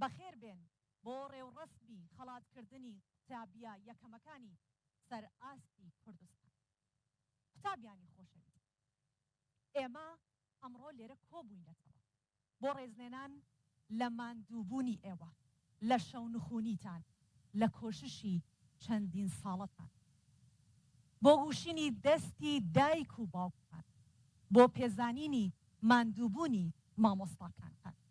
بەخێر بێن بۆ ڕێوڕەسمی خەڵات کردنی قوتابیە یەکەمەکانی سەر ئاستی کوردستان. قوتابیانی خۆشەویست. ئێمە ئەمڕۆ لێرە کۆبووینەتەوە بۆ ڕێزلێنان لە ماندووبوونی ئێوە، لە شەونخوونیتان، لە کۆششی چەندین ساڵەتان بۆ گوشینی دەستی دایک و باوکتان، بۆ پێزانینی ماندووبوونی مامۆستاکانتان.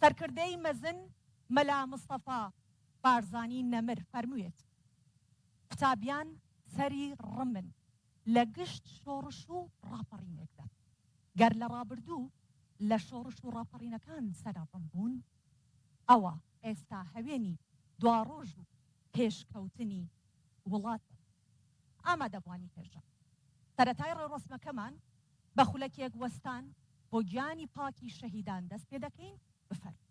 سەرکردەی مەزن مەلا مستەفا بارزانی نەمر فەرموویەتی، قوتابیان سەری ڕمن لە گشت شۆڕش و ڕاپەڕینێکدا. گەر لە ڕابردوو لە شۆڕش و ڕاپەڕینەکان سەرە ڕم بوون، ئەوا ئێستا هەوێنی دواڕۆژ و پێشکەوتنی وڵات بن. ئامادەبووانی هێژا سەرەتای ڕێوڕەسمەکەمان، بە خولەکێک وەستان بۆ گیانی پاکی شەهیدان دەست پێ دەکەین، بفەرموون.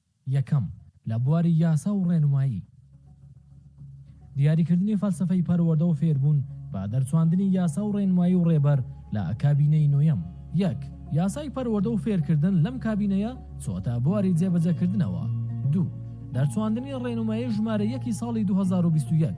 یەکەم، لە بواری یاسا و ڕێنمایی. دیاریکردنی فەلسەفەی پەروەردە و فێربوون بە دەرچواندنی یاسا و ڕێنمایی و ڕێبەر لە کابینەی نۆیەم. یەک، یاسای پەروەردە و فێرکردن لەم کابینەیە چۆتە بواری جێبەجێکردنەوە. دوو، دەرچواندنی ڕێنمایی ژمارە یەکی ساڵی دوو هەزار و بیست و یەک.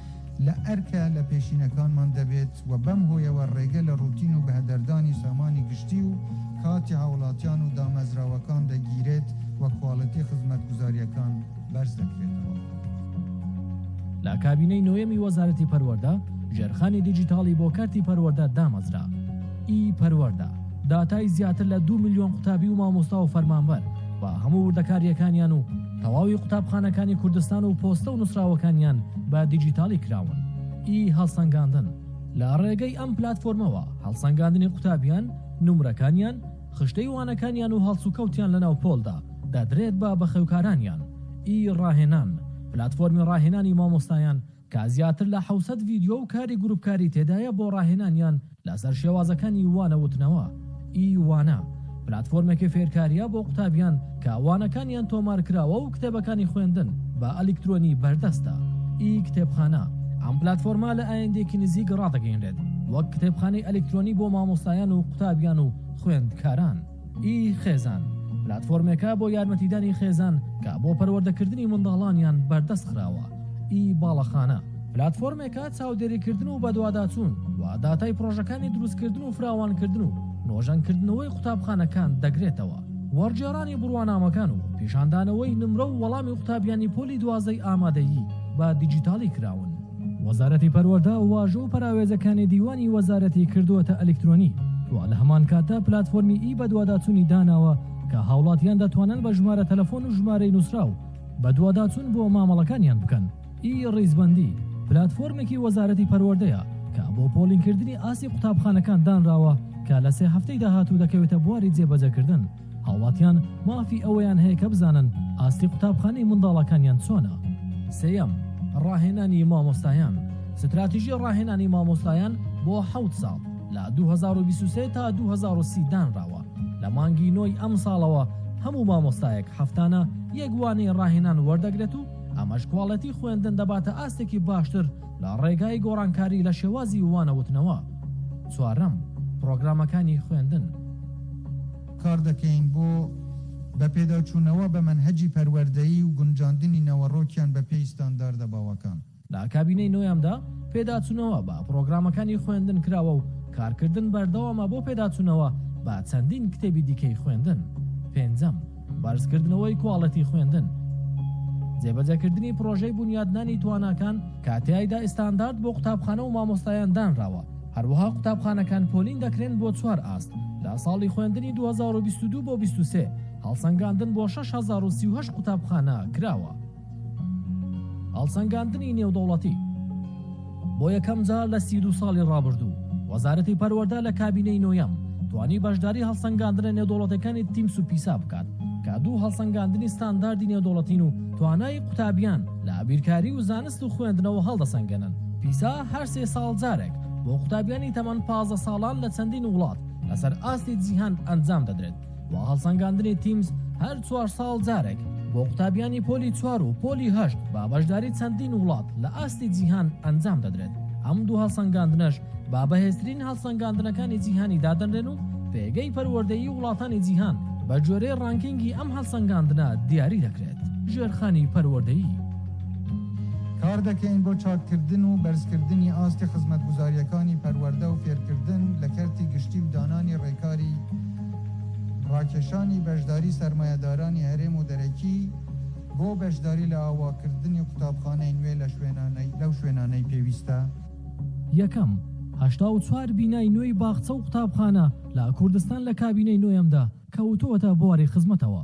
لە ئەرکە لە پێشینەکانمان دەبێت و بەم هۆیەوە ڕێگە لە ڕوتین و بەهەدەردانی سامانی گشتی و کاتی هاوڵاتیان و دامەزراوەکان دەگیرێت و کواڵیتی خزمەتگوزارییەکان بەرز دەکرێتەوە. لە کابینەی نۆیەمی وەزارەتی پەروەردە، ژێرخانی دیجیتاڵی بۆ کەرتی پەروەردە دامەزرا. ئی پەروەردە داتای زیاتر لە دوو ملیۆن قوتابی و مامۆستا و فەرمانبەر و هەموو وردەکارییەکانیان و تەواوی قوتابخانەکانی کوردستان و پۆستە و نووسراوەکانیان بە دیجیتاڵی کراون. ی هەڵسەنگاندن. لە ڕێگەی ئەم پلاتفۆرمەوە هەڵسەنگاندنی قوتابیان، نومرەکانیان، خشتەی وانەکانیان و هەڵسوکەوتیان لە ناو پۆلدا، دەدرێت بە بەخێوکارانیان. ی ڕاهێنان. پلاتفۆرمی ڕاهێنانی مامۆستایان، کە زیاتر لە حەوت سەد ڤیدیۆ و کاری گروپکاری تێدایە بۆ ڕاهێنانیان لەسەر شێوازەکانی وانە وتنەوە ی وانە، پلاتفۆرمێکی فێرکاریە بۆ قوتابیان کە وانەکانیان تۆمارکراوە و کتێبەکانی خوێندن بە ئەلیکترۆنی بەردەستە ی کتێبخانە، ئەم پلاتفۆرمە لە ئایندەیەکی نزیک ڕادەگەیەنرێت وەک کتێبخانەی ئەلیکترۆنی بۆ مامۆستایان و قوتابیان و خوێندکاران. ی خێزان، پلاتفۆرمێکە بۆ یارمەتیدانی خێزان کە بۆ پەروەردەکردنی منداڵانیان بەردەست خراوە. ی باڵەخانە، پلاتفۆرمێکە چاودێریکردن و بەدواداچوون و داتای پڕۆژەکانی دروستکردن و فراوانکردن و نۆژەنکردنەوەی قوتابخانەکان دەگرێتەوە. وەرگێڕانی بڕوانامەکان و پیشاندانەوەی نمرە و وەڵامی قوتابیانی پۆلی دوازدەی ئامادەیی بە دیجیتاڵی کراون. وەزارەتی پەروەردە واژۆ و پەراوێزەکانی دیوانی وەزارەتی کردووەتە ئەلیکترۆنی و لە هەمان کاتدا پلاتفۆرمی ئی بەدواداچوونی داناوە کە هاوڵاتیان دەتوانن بە ژمارە تەلەفۆن و ژمارەی نووسراو بەدواداچوون بۆ مامەڵەکانیان بکەن. ئی ڕیزبەندی، پلاتفۆرمێکی وەزارەتی پەروەردەیە کە بۆ پۆڵینکردنی ئاستی قوتابخانەکان دانراوە کە لە سێ هەفتەی داهاتوو دەکەوێتە بواری جێبەجێکردن. هاوڵاتیان مافی ئەوەیان هەیە کە بزانن ئاستی قوتابخانەی منداڵەکانیان چۆنە. سێیەم، ڕاهێنانی مامۆستایان، ستراتیژی ڕاهێنانی مامۆستایان بۆ حەوت ساڵ، لە دوو هەزار و بیست و سێ تا دوو هەزار و سی دانراوە، لە مانگی نۆی ئەمساڵەوە هەموو مامۆستایەک هەفتانە یەک وانەی ڕاهێنان وەردەگرێت و ئەمەش کواڵێتی خوێندن دەباتە ئاستێکی باشتر، لە ڕێگای گۆڕانکاری لە شێوازی وانەوتنەوە. چوارەم، پڕۆگرامەکانی خوێندن. کار دەکەین بۆ بە پێداچوونەوە بە مەنهەجی پەروەردەیی و گونجاندنی نەوەڕۆکیان بە پێی ستانداردە باوەکان. لە کابینەی نۆیەمدا پێداچوونەوە بە پڕۆگرامەکانی خوێندن کراوە و کارکردن بەردەوامە بۆ پێداچوونەوە بە چەندین کتێبی دیکەی خوێندن. پێنجەم. بەرزکردنەوەی کواڵێتی خوێندن. جێبەجەکردنی پڕۆژەی بونیادنانی تواناکان کە تیایدا ئیستاندارد بۆ قوتابخانە و مامۆستایان دانراوە، هەروەها قوتابخانەکان پۆلین دەکرێن بۆ چوار ئاست لە ساڵی خوێندنی دوو هەزار و بیست و دوو بۆ بیست و سێ، هەڵسەنگاندن بۆ شەش هەزار و سی و هەشت قوتابخانە کراوە. هەڵسەنگاندنی نێودەوڵەتی بۆ یەکەم جار لە سی دوو ساڵی ڕابردوو وەزارەتی پەروەردە لە کابینەی نۆیەم توانی بەشداری هەڵسەنگاندنە نێودەوڵەتەکانی تیمس و پیسا بکات کە دوو هەڵسەنگاندنی ستانداردی نێودەوڵەتین و توانای قوتابیان لە ئابیرکاری و زانست و خوێندنەوە هەڵدەسەنگێنن پیسا هەر سێ ساڵ جارێک بۆ قوتابیانی تەمەن پازدە ساڵان لە چەندین وڵات لەسەر ئاستی جیهان ئەنجام دەدرێت و هەڵسەنگاندنی تیمز هەر چوار ساڵ جارێک بۆ قوتابیانی پۆلی چوار و پۆلی هەشت با بەشداری چەندین وڵات لە ئاستی جیهان ئەنجام دەدرێت ئەم دوو هەڵسەنگاندنەش با بەهێزترین هەڵسەنگاندنەکانی جیهانی دادەنرێن و پێگەی پەروەردەیی وڵاتانی جیهان بە جۆرەی ڕانکینگی ئەم هەڵسەنگاندنە دیاری دەکرێت ژێرخانی پەروەردەیی کار دەکەین بۆ چاککردن و بەرزکردنی ئاستی خزمەتگوزارییەکانی پەروەردە و فێرکردن لە کەرتی گشتی و دانانی ڕێکاری ڕاکێشانی بەشداری سەرمایەدارانی هەرێم و دەرەکی بۆ بەشداری لە ئاواکردنی قوتابخانەی نوێ لە شوێنانەی لەو شوێنانەی پێویستە. یەکەم، هەشتا و چوار بینای نوێی باخچە و قوتابخانە لە کوردستان لە کابینەی نۆیەمدا کەوتووەتە بواری خزمەتەوە.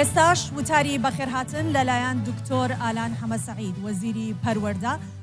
ئێستاش وتاری بەخێرهاتن لەلایەن دکتۆر ئالان حەمەسەعید، وەزیری پەروەردە،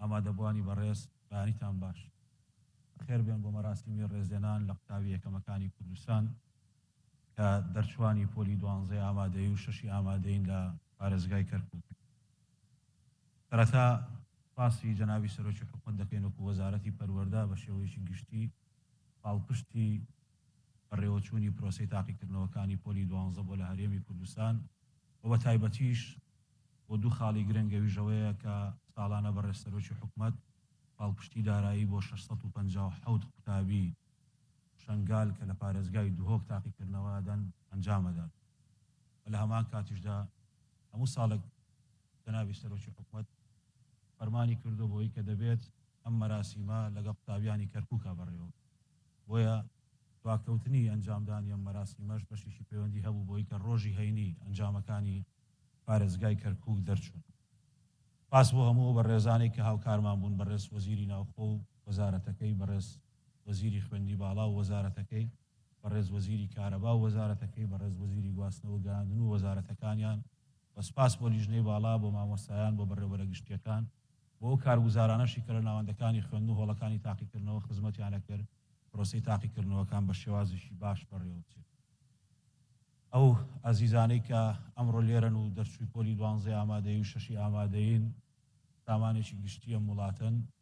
ئامادەبووانی بەڕێز، بەیانیتان باش. بەخێر بێن بۆ مەراسیمی ڕێزلێنان لە قوتابی یەکەمەکانی کوردستان کە دەرچووانی پۆلی دوانزەی ئامادەیی و شەشی ئامادەیین لە پارێزگای کەرکووک. سەرەتا سوپاسی جەنابی سەرۆکی حکومەت دەکەین وەکوو وەزارەتی پەروەردە بە شێوەیەکی گشتی پاڵپشتی بەڕێوەچوونی پرۆسەی تاقیکردنەوەکانی پۆلی دوانزە بۆ لە هەرێمی کوردستان و بە تایبەتیش بۆ دوو خاڵی گرنگ ئەویش ئەوەیە کە ساڵانە بەڕێز سەرۆکی حکومەت پاڵپشتی دارایی بۆ شەش سەد و پەنجا و حەوت قوتابی شەنگال کە لە پارێزگای دهۆک تاقیکردنەوە ئەدەن ئەنجام ئەدات و لە هەمان کاتیشدا هەموو ساڵێک جەنابی سەرۆکی حکومەت فەرمانی کردووە بەوەی کە دەبێت ئەم مەراسیمە لەگەڵ قوتابیانی کەرکووکا بەڕێوە بۆیە دواکەوتنی ئەنجامدانی ئەم مەراسیمەش بەشێکی پەیوەندی هەبوو بەوەی کە ڕۆژی هەینی ئەنجامەکانی پارێزگای کەرکووک دەرچوون. سپاس بۆ هەموو ئەو بەڕێزانەی کە هاوکارمان بوون، بەڕێز وەزیری ناوخۆ و وەزارەتەکەی، بەڕێز وەزیری خوێندنی باڵا و وەزارەتەکەی، بەڕێز وەزیری کارەبا و وەزارەتەکەی، بەڕێز وەزیری گواستنەوە گەیاندن و وەزارەتەکانیان، وە سپاس بۆ لیژنەی باڵا، بۆ مامۆستایان، بۆ بەڕێوبەرە گشتییەکان، بۆ ئەو کارگوزارانەشی کە لە ناوەندەکانی خوێندن و هۆڵەکانی تاقیکردنەوە خزمەتیان ئەکرد پرۆسەی تاقیکردنەوەکان بە شێوازێکی باش بەڕێوەبچێت. ئەو ئازیزانەی کە ئەمڕۆ لێرەن و دەرچووی پۆلی دوانزەی ئامادەیی و شەشی ئامادەیین سامانێکی گشتی ئەم وڵاتەن،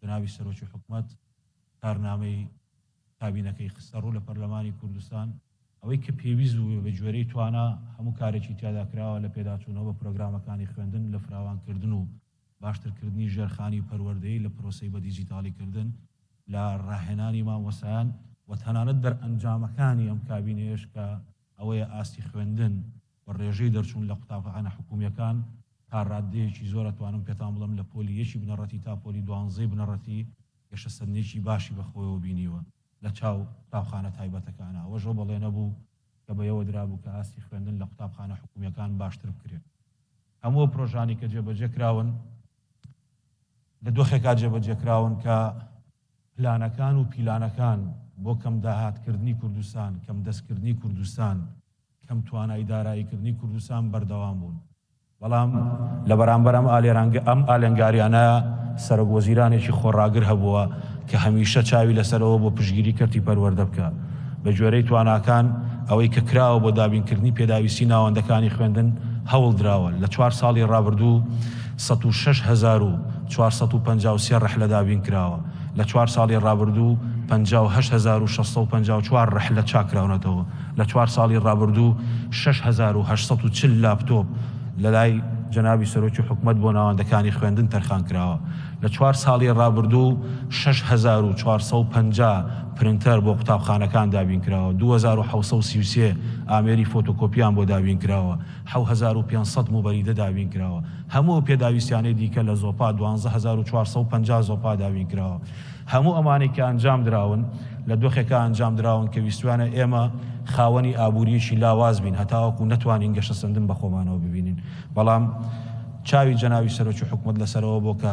جەنابی سەرۆکی حکومەت کارنامەی کابینەکەی خستەڕوو لە پەرلەمانی کوردستان، ئەوەی کە پێویست بوو بە گوێرەی توانا هەموو کارێکی تیادا کراوە لە پێداچوونەوە بە پرۆگرامەکانی خوێندن لە فراوانکردن و باشترکردنی ژێرخانی و پەروەردەی لە پرۆسەی بە دیجیتاڵیکردن لە ڕاهێنانی مامۆستایان و تەنانەت دەرئەنجامەکانی ئەم کابینەیەش کە ئەوەیە ئاستی خوێندن بە ڕێژەی دەرچوون لە قوتابخانە حکوومییەکان تا ڕاددەیەکی زۆر ئەتوانم پێتان بڵێم لە پۆلی یەکی بنەڕەتی تا پۆلی دوانزەی بنەڕەتی گەشەسەندنێکی باشی بە خۆیەوە بینیوە لە چاو قوتابخانە تایبەتەکان ئەوەش ئەو بەڵێنە بوو کە بە یەوە درابوو کە ئاستی خوێندن لە قوتابخانە حکوومییەکان باشتر بکرێت هەموو ئەو پرۆژانەی کە جێبەجێ کراون لە دۆخێکا جێبەجێکراون کە پلانەکان و پیلانەکان بۆ کەم داهاتکردنی کوردستان، کەم دەستکردنی کوردستان، کەم توانای داراییکردنی کوردستان بەردەوام بوون. بەڵام لە بەرامبەر ئەم ئالێرانگە ئەم ئالنگاریانە سەرۆک وەزیرانێکی خۆڕاگر هەبووە کە هەمیشە چاوی لەسەر ئەوە بووە پشتگیری کەرتی پەروەردە بکا بە گوێرەی تواناکان ئەوەی کە کراوە بۆ دابینکردنی پێداویستی ناوەندەکانی خوێندن هەوڵ دراوە لە چوار ساڵی ڕابردوو سەد و شەش هەزار و چوار سەد و پەنجا و سێ ڕەحلە دابین کراوە، لە چوار ساڵی ڕابردوو پەنجا و هەشت هەزار و شەش سەد و پەنجا و چوار ڕەحلە چاککراونەتەوە، لە چوار ساڵی ڕابردوو شەش هەزار و هەشت سەد و چل لاپتۆپ لەلای جەنابی سەرۆکی حکومەت بۆ ناوەندەکانی خوێندن تەرخانکراوە، لە چوار ساڵی ڕابردوو شەش هەزار و چوار سەد و پەنجا پرنتەر بۆ قوتابخانەکان دابینکراوە، دوو هەزار و حەوت سەد و سی و سێ ئامێری فۆتۆکۆپییان بۆ دابینکراوە، حەوت هەزار و پێنج سەد موبەریدە دابین کراوە، هەموو ئەو پێداویستیانەی دیکە لە زۆپا دوانزە هەزار و چوار سەد و پەنجا زۆپا دابین کراوە. هەموو ئەمانەی کە ئەنجام دراون لە دۆخێکا ئەنجام دراون کە ویستویانە ئێمە خاوەنی ئابوورییەکی لاواز بین هەتاوەکو نەتوانین گەشەسەندن بە خۆمانەوە ببینین بەڵام چاوی جەنابی سەرۆکی حکومەت لەسەرەوە بۆ کە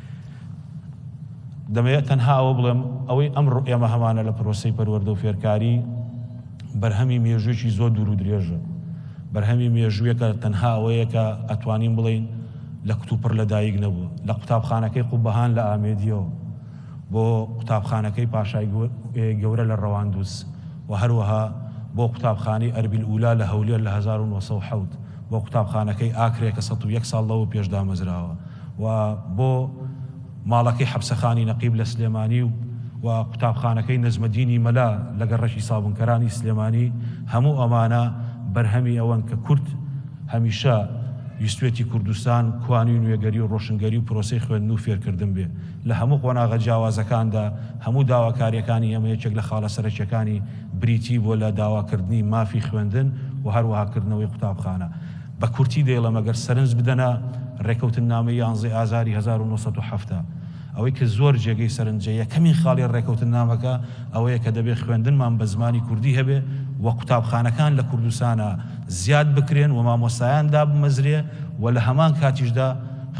دەمەوێت تەنها ئەوە بڵێم، ئەوەی ئەمڕۆ ئێمە هەمانە لە پرۆسەی پەروەردە و فێرکاری، بەرهەمی مێژووێکی زۆر دوور و درێژە. بەرهەمی مێژووێکە تەنها ئەوەیە کە ئەتوانین بڵێین لە کتوپڕ لە دایک نەبووە. لە قوتابخانەکەی قوبەهان لە ئامێدییەوە بۆ قوتابخانەکەی پاشای گەورە لە ڕەواندوز و هەروەها بۆ قوتابخانەی ئەربیل ئولا لە هەولێر لە هەزار و نۆ سەد و حەوت بۆ قوتابخانەکەی ئاکرێ کە سەد و یەک ساڵ لەوە پێش دامەزراوە. و بۆ ماڵەکەی حەپسەخانی نەقیب لە سلێمانی و و قوتابخانەکەی نەجمەدینی مەلا لە گەڕەکی سابونکەرانی سلێمانی هەموو ئەمانە بەرهەمی ئەوەن کە کورد هەمیشە ویستوێتی کوردستان کوانی نوێگەری و ڕۆشنگەری و پرۆسەی خوێندن و فێرکردن بێ لە هەموو قۆناغە جیاوازەکاندا هەموو داواکاریەکانی ئێمە یەکێک لە خاڵە سەرەکیەکانی بریتی بووە لە داواکردنی مافی خوێندن و هەروەها کردنەوەی قوتابخانە بە کورتی دەیڵێم ئەگەر سەرنج بدەنە ڕێکەوتننامەی یانزەی ئازاری هەزار و نۆ سەد و حەفتا، ئەوەی کە زۆر جێگەی سەرنجە یەکەمین خاڵی ڕێکەوتننامەکە ئەوەیە کە دەبێ خوێندنمان بە زمانی کوردی هەبێ و قوتابخانەکان لە کوردستانا زیاد بکرێن و مامۆستایان دابمەزرێ و لە هەمان کاتیشدا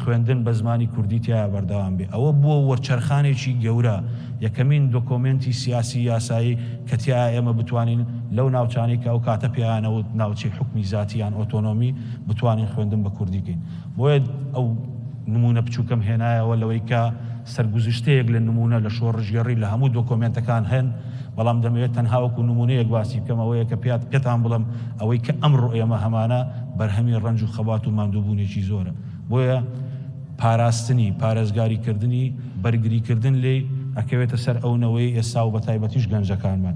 خوێندن بە زمانی کوردی تیایا بەردەوام بێ ئەوە بووە وەرچەرخانێکی گەورە، یەکەمین دۆکۆمێنتی سیاسی یاسایی کە تیایا ئێمە بتوانین لەو ناوچانەی کە ئەو کاتە پێیان ئەوت ناوچەی حوکمی زاتی یان ئۆتۆنۆمی بتوانین خوێندن بە کوردی کەین بۆیە ئەو نموونە بچووکەم هێنایەوە لەوەی کە سەرگوزشتەیەک لە نموونە لە شۆڕشگێڕی لە هەموو دۆکۆمێنتەکان هەن، بەڵام دەمەوێت تەنها وەکو نموونەیەک باسی بکەم، ئەوەیە کە پێات پێتان بڵێم ئەوەی کە ئەمڕۆ ئێمە هەمانە بەرهەمی ڕەنج و خەبات و ماندووبوونێکی زۆرە، بۆیە پاراستنی، پارێزگاری کردنی، بەرگری کردن لێی ئەکەوێتە سەر ئەو نەوەی ئێستا و بە تایبەتیش گەنجەکانمان.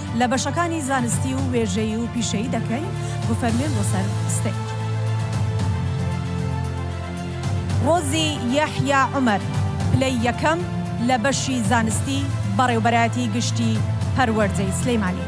لە بەشەکانی زانستی و وێژەیی و پیشەیی دەکەین بفەرموێن بۆ سەر ستەی. ڕۆزی یەحیا عومەر پلەی یەکەم لە بەشی زانستی بەڕێوبەرایەتی گشتی پەروەردەی سلیمانی.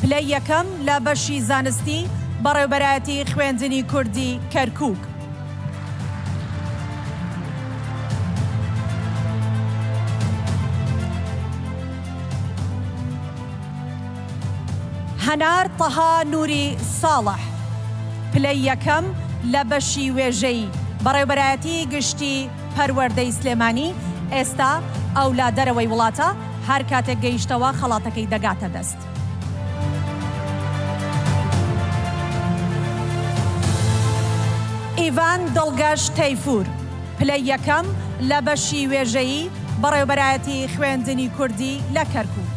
پلەی یەکەم لە بەشی زانستی، بەڕێوبەرایەتی خوێندنی کوردی کەرکوک. هەنار تەها نوری ساڵح، پلەی یەکەم لە بەشی وێژەیی، بەڕێوبەرایەتی گشتی پەروەردەی سلێمانی ئێستا ئەو لە دەرەوەی وڵاتە، هەر کاتێک گەیشتەوە خەڵاتەکەی دەگاتە دەست. ئیڤان دڵگەش تەیفور، پلەی یەکەم لە بەشی وێژەیی، بەڕێوبەرایەتی خوێندنی کوردی لە کەرکووک.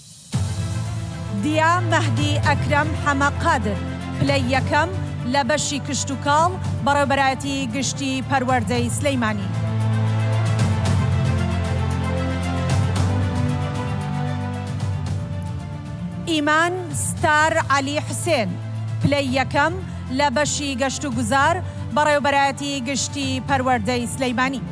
دیا مەهدی ئەکرەم حەمە قادر، پلەی یەکەم لە بەشی کشتوکاڵ، بەڕێوبەرایەتی گشتی پەروەردەی سلیمانی. ئیمان ستار عەلی حوسێن، پلەی یەکەم لە بەشی گەشتوگوزار، بەڕێوبەرایەتی گشتی پەروەردەی سلیمانی.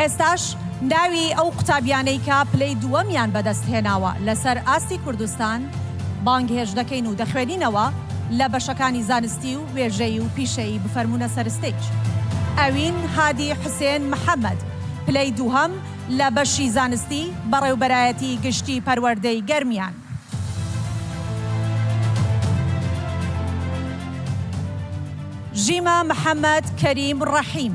ئێستاش ناوی ئەو قوتابیانەی کە پلەی دووەمیان بەدەست هێناوە لەسەر ئاستی کوردستان بانگهێشت دەکەین و دەخوێنینەوە لە بەشەکانی زانستی و وێژەیی و پیشەیی بفەرموونە سەر ستەیج ئەوین هادی حوسێن محەمەد پلەی دووهەم لە بەشی زانستی بەڕێوبەرایەتی گشتی پەروەردەی گەرمیان. ژیما محەمەد کەریم ڕەحیم.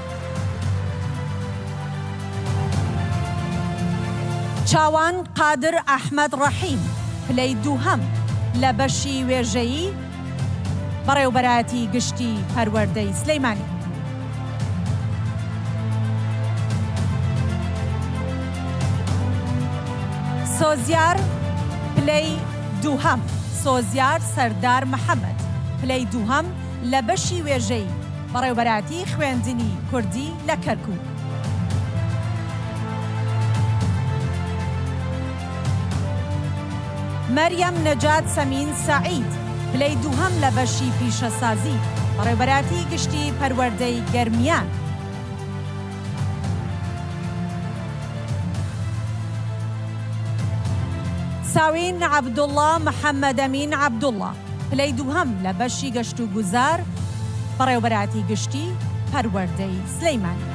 چاوان قادر ئەحمەد ڕەحیم، پلەی دووهەم لە بەشی وێژەیی، بەڕێوبەرایەتی گشتی پەروەردەی سلیمانی. سۆزیار، پلەی دووهەم سۆزیار سەردار محەمەد، پلەی دووهەم لە بەشی وێژەیی، بەڕێوبەرایەتی خوێندنی کوردی لە کەرکوک. مەریەم نەجات سەمین سەعید، پلەی دووهەم لە بەشی پیشەسازی، بەڕێوبەرایەتی گشتی پەروەردەی گەرمیان. ساوین عەبدوڵا محەمەدەمین عەبدوڵا، پلەی دووهەم لە بەشی گەشتوگوزار، بەڕێوەبەرایەتی گشتی پەروەردەی سلێمانی.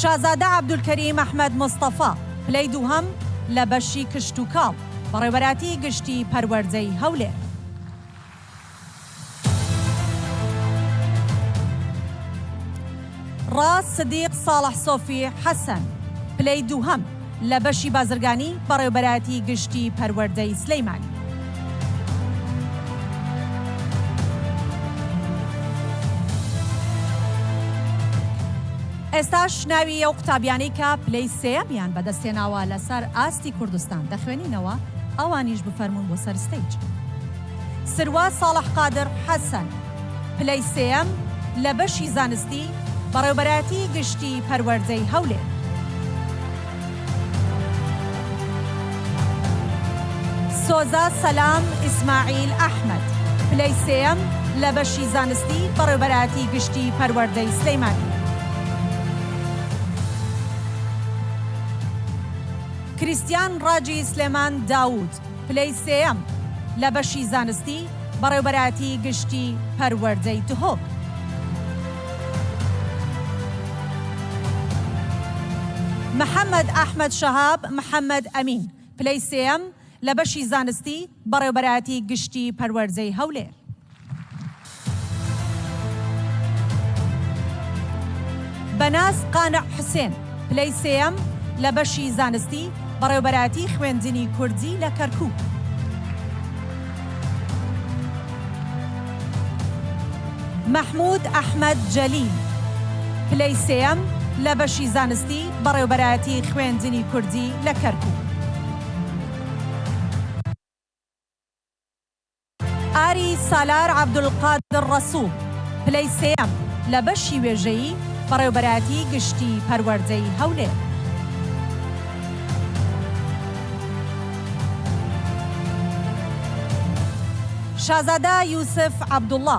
شازادە عەبدولکەریم ئەحمەد مستەفا، پلەی دووهەم لە بەشی کشتوکاڵ، بەڕێوەبەرایەتی گشتی پەروەردەی هەولێر. ڕاز سدیق ساڵح سۆفی حەسەن پلەی دووهەم لە بەشی بازرگانی، بەڕێوبەرایەتی گشتی پەروەردەی سلیمانی. ئێستاش ناوی ئەو قوتابیانەی کە پلەی سێیەمیان بەدەستهێناوە لەسەر ئاستی کوردستان دەخوێنینەوە، ئەوانیش بفەرموون بۆ سەر ستەیج. سروە ساڵح قادر حەسەن، پلەی سێیەم لە بەشی زانستی، بەڕێوبەرایەتیی گشتیی پەروەردەی هەولێر. سۆزە سەلام ئیسماعیل ئەحمەد، پلەی سێیەم لە بەشی زانستی، بەڕێوبەرایەتیی گشتیی پەروەردەی سلێمانی. کریستیان ڕاجی سلێمان داوود، پلەی سێیەم لە بەشی زانستی بەڕێوبەرایەتی گشتی پەروەردەی دهۆک. محەمەد ئەحمەد شەهاب محەمەد ئەمین، پلەی سێیەم لە بەشی زانستی بەڕێوبەرایەتی گشتی پەروەردەی هەولێر. بەناز قانع حوسێن، پلەی سێیەم لە بەشی زانستی، بەڕێوبەرایەتی خوێندنی کوردی لە کەرکووک. مەحموود ئەحمەد جەلیل، پلەی سێیەم لە بەشی زانستی، بەڕێوبەرایەتی خوێندنی کوردی لە کەرکووک. ئاری سالار عەبدولقادر ڕەسوڵ، پلەی سێیەم لە بەشی وێژەیی، بەڕێوەبەرایەتیی گشتیی پەروەردەی هەولێر. شازادە یوسف عەبدوڵڵا.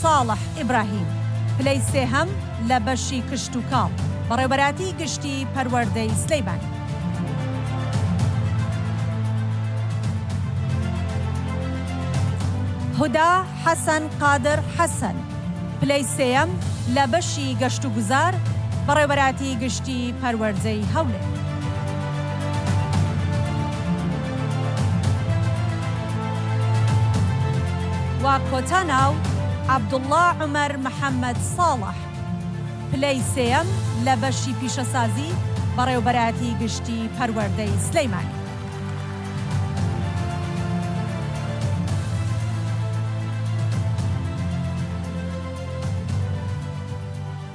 ساڵح ئیبراهیم، پلەی سێهەم لە بەشی کشتوکاڵ، بەڕێوەبەرایەتیی گشتیی پەروەردەی سلێمانی. هودا حەسەن قادر حەسەن، پلەی سێیەم لە بەشی گەشتوگوزار، بەڕێوەبەرایەتیی گشتیی پەروەردەی هەولێر. و کۆتا ناو، عەبدوڵڵا عومەر محەمەد ساڵح، پلەی سێیەم لە بەشی پیشەسازی، بەڕێوبەرایەتی گشتی پەروەردەی سلێمانی.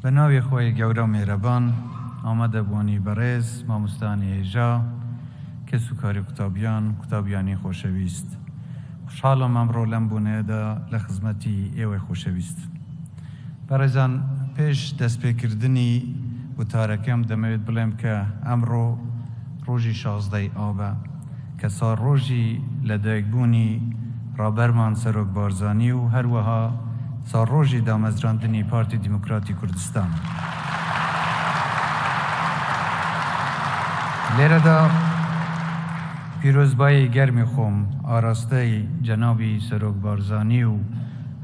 بە ناوی خۆی گەورە و مێرەبان ئامادە بوانی بەڕێز ماموستانی هێژا، کەس و کاری قوتابیان، قوتابیانی خۆشەویست. خوشحالم ئەمڕۆ لەم بۆنەیەدا لە خزمەتی ئێوەی خۆشەویست. بەڕێزان پێش دەستپێکردنی وتارەکەم دەمەوێت بڵێم کە ئەمڕۆ ڕۆژی شازدە ی ئابە، کە ساڕۆژی لەدایکبوونی ڕابەرمان سەرۆک بارزانی و هەروەها ساڕۆژی دامەزراندنی پارتی دیموکراتی کوردستانە. لێرەدا پیرۆزبایی گەرمی خۆم ئاراستەی جەنابی سەرۆک بارزانی و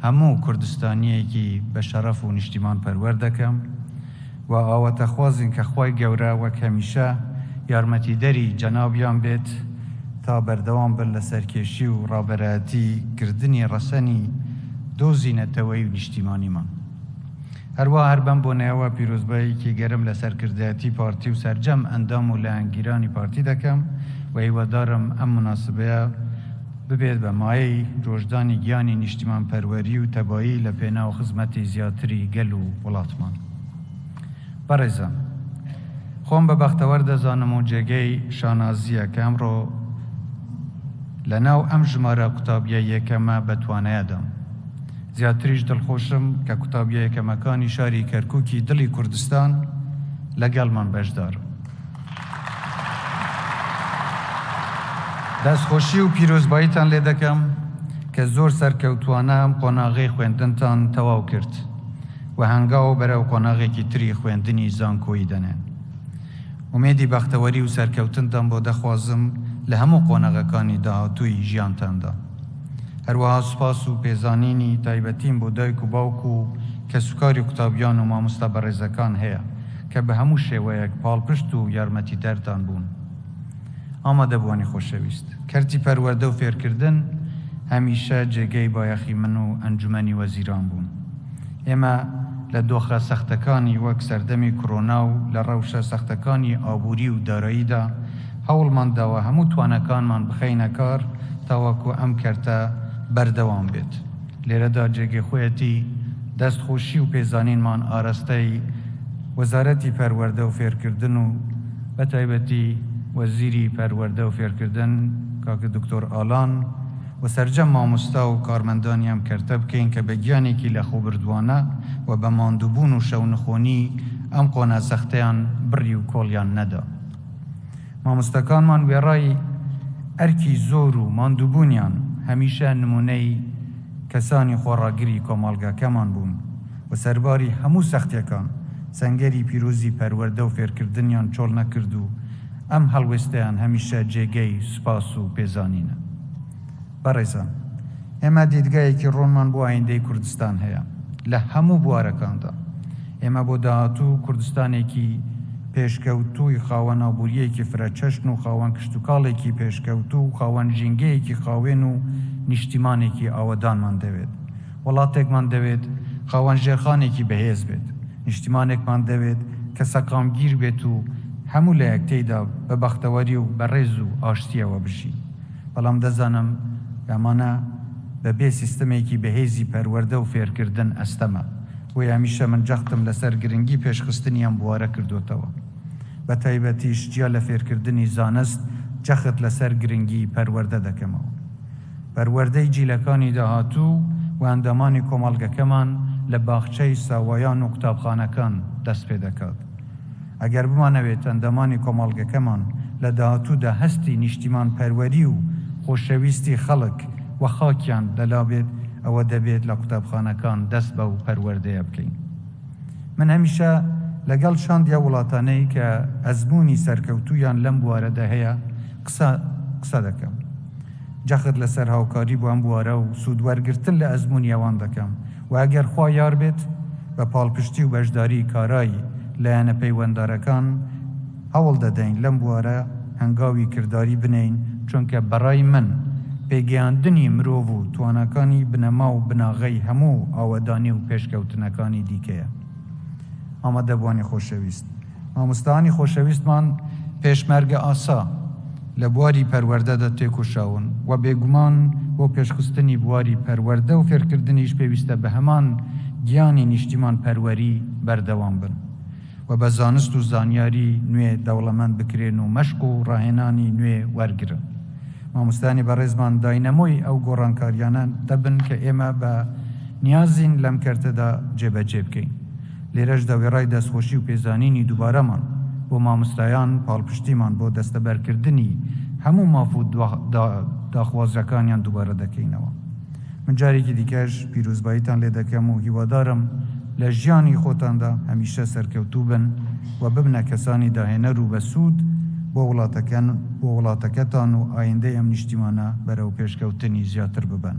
هەموو کوردستانییەکی بەشەڕەف و نیشتیمانپەروەر دەکەم، و ئاواتەخوازین کە خوای گەورە وەک هەمیشە یارمەتیدەری جەنابیان بێت تا بەردەوام بن لە سەرکێشی و ڕابەرایەتی کردنی ڕەسەنی دۆزی نەتەوەیی و نیشتیمانیمان. هەروا هەر بەم بۆنەیەوە پیرۆزباییکی گەرم لە سەرکردایەتی پارتی و سەرجەم ئەندام و لایەنگیرانی پارتی دەکەم و هیوادارم ئەم موناسبەیە ببێت بە مایەی ڕۆژدانی گیانی نیشتیمانپەروەری و تەبایی لە پێناو خزمەتی زیاتری گەل و وڵاتمان. بەڕێزان خۆم بە بەختەوەر دەزانم و جێگەی شانازییە کە ئەمڕۆ لە ناو ئەم ژمارە قوتابیە یەکەمە بە توانایەدام زیاتریش دڵخۆشم کە قوتابیە یەکەمەکانی شاری کەرکووکی دڵی کوردستان لەگەڵمان بەشدارم دەستخۆشی و پیرۆزباییتان لێ دەکەم کە زۆر سەرکەوتوانە ئەم قۆناغەی خوێندنتان تەواو کرد و هەنگاو بەرەو قۆناغێکی تری خوێندنی زانکۆیی دەنێن. ئومێدی بەختەوەری و سەرکەوتنتان بۆ دەخوازم لە هەموو قۆناغەکانی داهاتووی ژیانتاندا. هەروەها سوپاس و پێزانینی تایبەتیم بۆ دایک و باوک و کەسوکاری قوتابیان و مامۆستا بەڕێزەکان هەیە کە بە هەموو شێوەیەک پاڵپشت و یارمەتیدەرتان بوون. ئامادەبووانی خۆشەویست. کەرتی پەروەردە و فێرکردن هەمیشە جێگەی بایەخی من و ئەنجومەنی وەزیران بوون. ئێمە لە دۆخە سەختەکانی وەک سەردەمی کۆرۆنا و لە ڕەوشە سەختەکانی ئابووری و داراییدا هەوڵمان داوە هەموو تواناکانمان بخەینە کار تاوەکو ئەم کەرتە بەردەوام بێت. لێرەدا جێگەی خۆیەتی دەست خۆشی و پێزانینمان ئارەستەی وەزارەتی پەروەردە و فێرکردن و بەتایبەتی وەزیری پەروەردە و فێرکردن کاک دکتۆر ئالان، و سەرجەم مامۆستا و کارمەندانی ئەم کەرتە بکەین کە بە گیانێکی لەخۆبردووانە و بە ماندووبوون و شەونخۆنی ئەم قۆناە سەختەیان بڕی و کۆڵیان نەدا. مامۆستاکانمان وێڕای ئەرکی زۆر و ماندووبوونیان هەمیشە نموونەی کەسانی خۆڕاگری کۆمەڵگاکەمان بوون و سەرباری هەموو سەختیەکان سەنگەری پیرۆزی پەروەردە و فێرکردنیان چۆڵ نەکرد و ئەم هەڵوێستەیان هەمیشە جێگەی سوپاس و پێزانینە. بەڕێزان، ئێمە دیدگایەکی ڕوونمان بۆ ئایندەی کوردستان هەیە لە هەموو بوارەکاندا. ئێمە بۆ داهاتوو کوردستانێکی پێشکەوتووی خاوەن ئابوورییەکی فرەچەشن و خاوەن کشتوکاڵێکی پێشکەوتوو و خاوەن ژینگەیەکی خاوێن و نیشتیمانێکی ئاوەدانمان دەوێت. وڵاتێکمان دەوێت خاوەن ژێرخانێکی بەهێز بێت، نیشتیمانێکمان دەوێت کە سەقامگیر بێت و هەموو لایەک تێیدا بە بەختەوەری و بە ڕێز و ئاشتییەوە بژین، بەڵام دەزانم کە ئەمانە بەبێ سیستمێکی بەهێزی پەروەردە و فێرکردن ئەستەمە، بۆیە هەمیشە من جەختم لەسەر گرنگی پێشخستنی ئەم بوارە کردۆتەوە، بە تایبەتیش جیا لە فێرکردنی زانست جەخت لەسەر گرنگی پەروەردە دەکەمەوە. پەروەردەی جیلەکانی داهاتوو و ئەندامانی کۆمەڵگەکەمان لە باخچەی ساوایان و قوتابخانەکان دەست پێ دەکات. ئەگەر بمانەوێت ئەندامانی کۆمەڵگەکەمان لە داهاتوودا هەستی نیشتیمانپەروەری و خۆشەویستی خەڵک و خاکیان لە لا بێت، ئەوە دەبێت لە قوتابخانەکان دەست بەو پەروەردەیە بکەین. من هەمیشە لەگەڵ شاندی ئەو وڵاتانەی کە ئەزموونی سەرکەوتوویان لەم بوارەدا هەیە قسە قسە دەکەم. جەخت لەسەر هاوکاری بۆ ئەم بوارە و سوود وەرگرتن لە ئەزموونی ئەوان دەکەم و ئەگەر خوا یار بێت بە پاڵپشتی و بەشداری کارای لایەنە پەیوەندارەکان هەوڵ دەدەین لەم بوارە هەنگاوی کرداری بنێین، چونکە بەڕای من پێگەیاندنی مرۆڤ و تواناکانی بنەما و بناغەی هەموو ئاوەدانی و پێشکەوتنەکانی دیکەیە. ئامادەبووانی خۆشەویست. مامۆستایانی خۆشەویستمان پێشمەرگە ئاسا لە بواری پەروەردەدا تێکۆشاون و بێگومان بۆ پێشخستنی بواری پەروەردە و فێرکردنیش پێویستە بە هەمان گیانی نیشتیمان پەروەری بەردەوام بن و بە زانست و زانیاری نوێ دەوڵەمەند بکرێن و مەشق و ڕاهێنانی نوێ وەرگرن مامۆستایانی بەڕێزمان داینەمۆی ئەو گۆڕانکاریانە دەبن کە ئێمە بە نیازین لەم کەرتەدا جێبەجێ بکەین لێرەشدا وێڕای دەستخۆشی و پێزانینی دووبارەمان بۆ مامۆستایان، پاڵپشتیمان بۆ دەستەبەرکردنی هەموو ماف و داخوازییەکانیان دووبارە دەکەینەوە. من جارێکی دیکەش پیرۆزباییتان لێ دەکەم و هیوادارم لە ژیانی خۆتاندا هەمیشە سەرکەوتوو بن و ببنە کەسانی داهێنەر و بەسوود بۆ وڵاتەکەن، بۆ وڵاتەکەتان و ئایندەی ئەم نیشتیمانە بەرەو پێشکەوتنی زیاتر ببەن.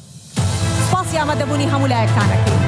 سپاسی ئامادەبوونی هەموو لایەکتان ئەکەین.